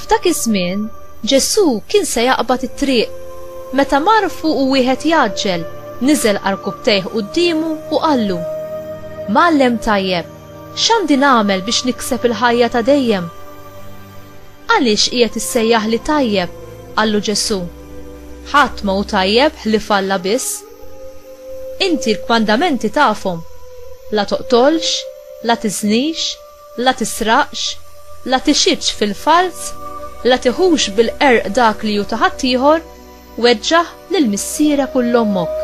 F'dak iż-żmien, Ġesù kien se jaqbad it-triq. Meta mar fuqu wieħed jgħaġġel, niżel għal rkupptejh quddiemu u qallu, Mgħallem tajjeb, x'għandi nagħmel biex nikseb il-ħajja ta' dejjem? Għaliex qiegħed issejjaħli tajjeb? qallu Ġesù. Ħadd ma hu tajjeb ħlief Alla biss. Inti l-kmandamenti tafhom, La toqtolx, la tiżnix, la tisraqx, la tixhidx fil-falz, la tiħux bil-qerq dak li hu ta' ħaddieħor, weġġaħ lil missierek u 'l ommok.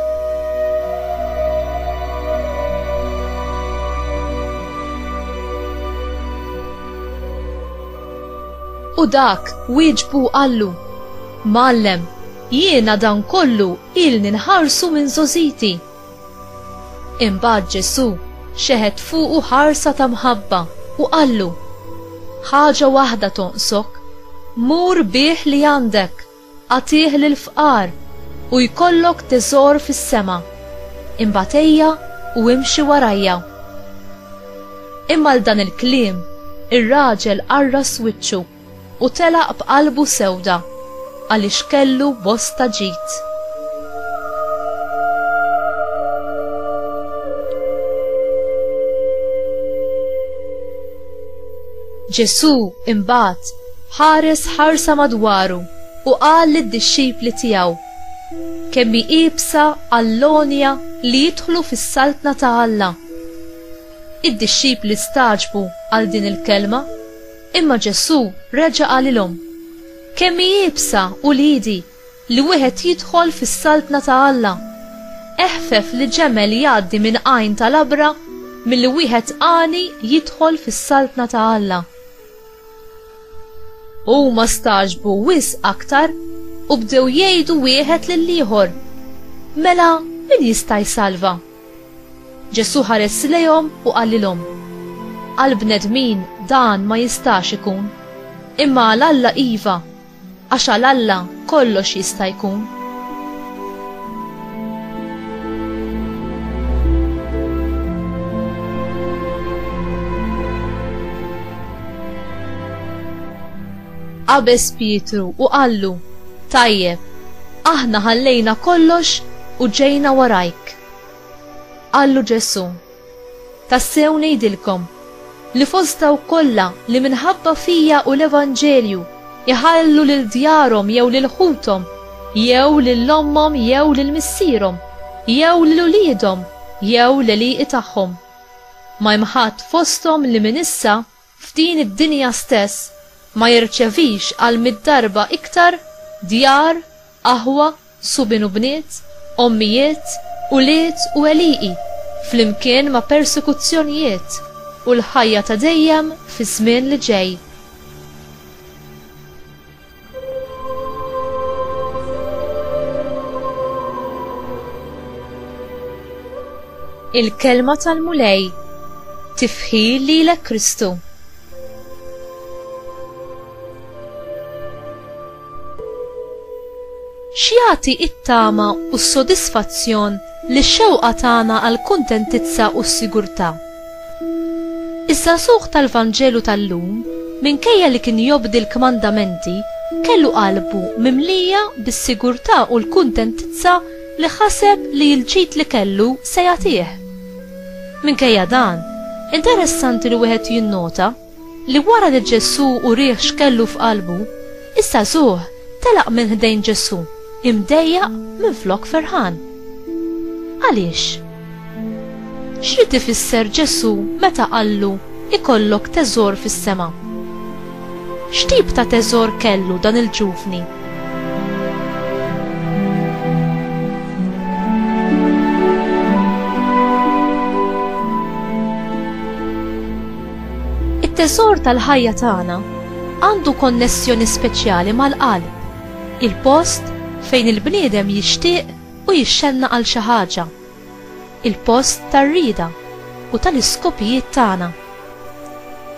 U dak wieġbu u qallu, Mgħallem, jiena dan kollu Ilni nħarsu minn żogħżiti. Imbagħad Ġesù xeħet fuqu ħarsa ta' mħabba u qallu, Ħaġa waħda tonqsok, mur bigħ li għandek, agħtih lill-fqar, u jkollok teżor fis-sema. Imbagħad ejja u imxi warajja. Imma għal dan il-kliem, ir-raġel qarras wiċċu. U telaq b'qalbu sewda, għaliex kellu bosta ġid. Ġesù imbagħad ħares ħarsa madwaru u qal lid-dixxipli tiegħu, Kemm hi iebsa għall-għonja li jidħlu fis-saltna ta' Alla! Id-dixxipli stagħġbu għal din il-kelma. Imma Ġesù reġa' qalilhom, Kemm hi iebsa, uliedi, li wieħed jidħol fis-saltna ta' Alla! Eħfef li ġemel jgħaddi minn għajn ta' labra milli wieħed għani jidħol fis-saltna ta' Alla. U huma stagħġbu wisq aktar u bdew jgħidu wieħed lill-ieħor, Mela min jista' jsalva? Ġesù ħares lejhom u qalilhom, Għall-bnedmin dan ma jistax ikun, imma għal Alla iva, għax għal Alla kollox jista' jkun. Qabeż Pietru u qallu, Tajjeb, aħna ħallejna kollox u ġejna warajk. Qallu Ġesù, Tassew ngħidilkom, li fost dawk kollha li minħabba fija u l-evanġelju jħallu lil djarhom jew lil ħuthom jew lil ommhom jew lil missierhom jew lil uliedhom jew l-għelieqi tagħhom, ma hemm ħadd fosthom li minn issa f'din id-dinja stess ma jirċevix għal mitt darba iktar djar, aħwa, subien u bniet, ommijiet, ulied u għelieqi, flimkien ma' persekuzzjonijiet, u l-ħajja ta' dejjem fiż-żmien li ġej. Il-Kelma tal-Mulej tifħi lilek Kristu. X'jagħti t-tama u s-sodisfazzjon lix-xewqa tagħna għall-kuntentizza u s-sigurtà? Iż-żagħżugħ tal-Vanġelu tal-lum, minkejja li kien jobdi l-kmandamenti, kellu qalbu mimlija bis-sigurtà u l-kuntentizza li ħaseb li l-ġid li kellu se jagħtih. Minkejja dan, interessanti li wieħed jinnota, li wara li Ġesù urih x'kellu f'qalbu, iż-żagħżugħ telaq minn ħdejn Ġesù imdejjaq minflok ferħan. Għaliex? X'ried ifisser Ġesù meta qallu ikollok teżor fis-sema? X'tip ta' teżor kellu dan il-ġuvni? It-teżor tal-ħajja tagħna għandu konnessjoni speċjali mal-qalb, il-post fejn il-bniedem jixtieq u jixxenna għal xi ħaġa, il-post tar-rieda u tal-iskopijiet tagħna.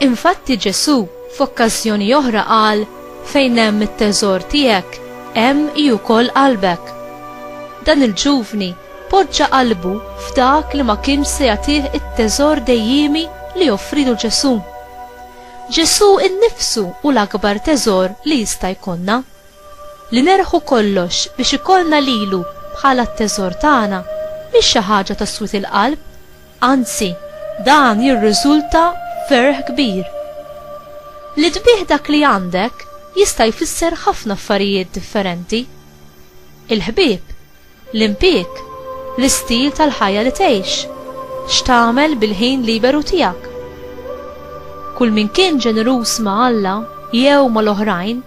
Infatti Ġesù f'okkażjoni oħra qal fejn hemm it-teżor tiegħek hemm hi wkoll qalbek. Dan il-ġuvni Poġġa qalbu f'dak li ma kienx se jagħtih it-teżor dejjiemi li offrilu Ġesù. Ġesù nnifsu hu l-akbar teżor li jista' jkollna. Li nerħu kollox biex ikollna lilu bħala t-teżor tagħna mhix xi ħaġa ta' swied il-qalb, anzi, dan jirriżulta f'ferħ kbir. Li tbigħ dak li għandek jista' jfisser ħafna affarijiet differenti. Il-ħbieb L-impjieg, l-istil tal-ħajja li tgħix, x'tagħmel bil-ħin liberu tiegħek. Kull min kien ġeneruż ma' Alla jew mal-oħrajn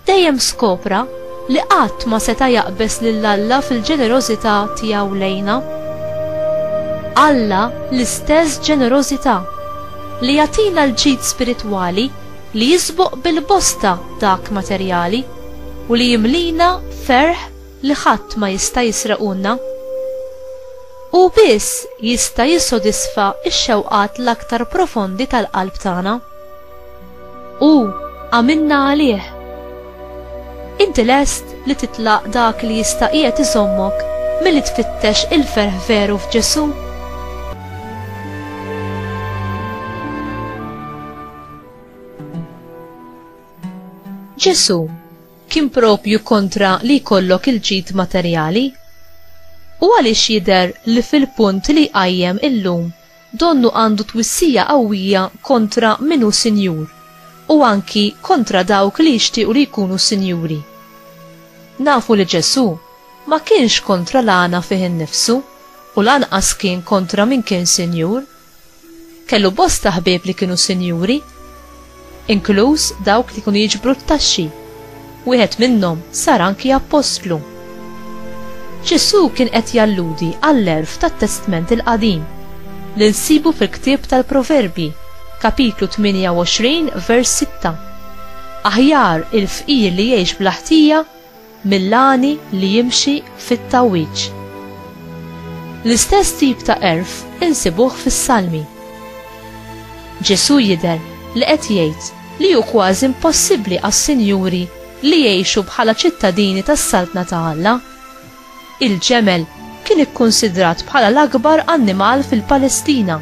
dejjem skopra li qatt ma seta' jaqbeż lil Alla fil-ġenerożità tiegħu lejna. Alla l-istess ġenerożità li jagħtina l-ġid spiritwali li jisboq bil-bosta dak materjali u li jimlina ferħ li ħadd ma jista' jisrequlna. Hu biss jista' jissodisfa x-xewqat l-aktar profondi tal-qalb tagħna. Hu għamilna għalih. Inti lest li titlaq dak li jista' qiegħed iżommok milli tfittex il-ferħ veru f'Ġesù? Ġesù kien proprju kontra li jkollok il-ġid materjali? U għaliex jidher li fil-punt li jqajjem illum donnu għandu twissija qawwija kontra min hu sinjur u anki kontra dawk li jixtiequ li jkunu sinjuri? Nafu li Ġesù ma kienx kontra l-għana fih innifsu u lanqas kien kontra min kien sinjur, Kellu bosta ħbieb li kienu sinjuri, inkluż dawk li kienu jiġbru t-taxxi. Wieħed minnhom sar anki appostlu. Ġesù kien qed jalludi għall-għerf tat-Testment il-Qadim li nsibu fil-ktieb tal-Proverbji, kapitlu 28 vers 6. Aħjar il-fqir li jgħix bla ħtija mill-għani li jimxi fit-tgħawwiġ. L-istess tip ta' għerf insibuh fis-Salmi. Ġesù jidher li qed jgħid li hu kważi impossibbli għas-sinjuri li jgħixu bħala ċittadini tas-Saltna ta' Alla. Il-ġemel kien ikkunsidrat bħala l-akbar annimal fil-Palestina.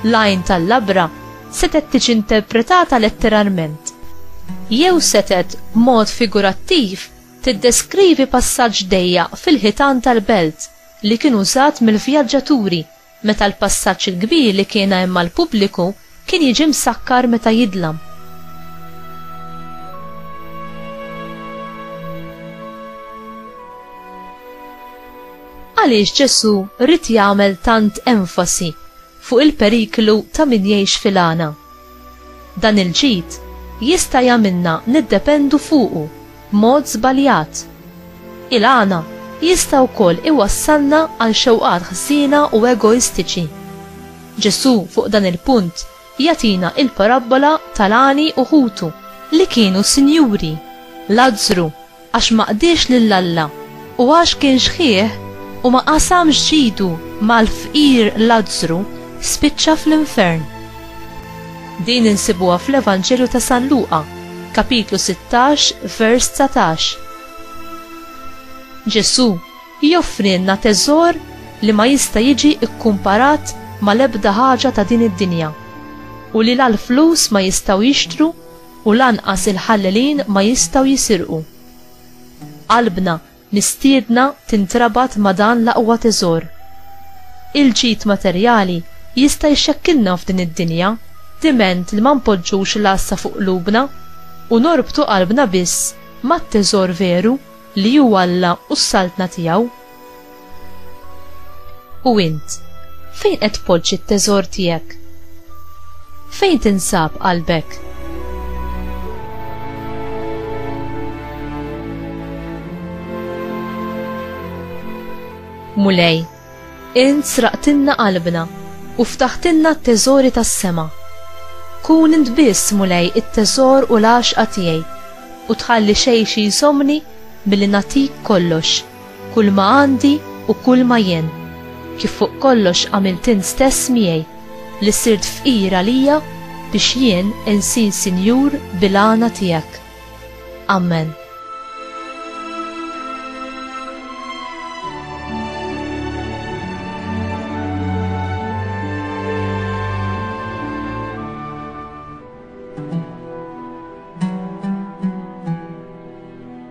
L-għajn tal-labra setet tiġi interpretata letteralment. Jew setet b'mod figurattiv tiddeskrivi passaġġ dejjaq fil-ħitan tal-belt li kien użat mill-vjaġġaturi meta l-passaġġ il-kbir li kien hemm għall-pubbliku kien jiġi msakkar meta jidlam. Għaliex Ġesù rrid jagħmel tant enfasi fuq il-periklu ta' min jgħix fil-għana. Dan il-ġid jista' jagħmilna niddependu fuqu b'mod żbaljat. Il-għana jista' wkoll iwassalna għal xewqat ħżiena u egoistiċi. Ġesù fuq dan il-punt jagħtina il-parabbola tal-għani u ħutu li kienu sinjuri, Lazzru, Għax ma qdiex lil Alla, u għax kien xħieh u ma qasamx ġidu mal-fqir Lazzru, spiċċa fl-infern. Din insibuha fl-Evanġelju ta' San Luqa, kapitlu 16, vers 19. Ġesù joffrilna teżor li ma jista' jiġi kkumparat mal-ebda ħaġa ta' din id-dinja u li la l-flus ma jistgħu jixtru u lanqas il-ħallelin ma jistgħu jisirqu. Qalbna mistiedna tintrabat ma' dan l-aqwa teżor. Il-ġid materjali jista' jxekkilna f'din id-dinja diment li ma npoġġux l-għassa fuq qlubna u norbtu qalbna biss mat-teżor veru li hu Alla u s-Saltna tiegħu. U int, fejn qed tpoġġi t-teżor tiegħek? Fejn tinsab qalbek? Mulej, int sraqtinna qalbna u ftaħtinna t-teżori tas-sema. Kun int biss mulej it-teżor u l-għaxqa tiegħi u tħalli xejn xi jżomni billi natik kollox. Kulma għandi u kulma jien, kif fuq kollox għamilt int stess miegħi, li sirt fqir għalija biex jien insir sinjur bil-għana tiegħek. Amen.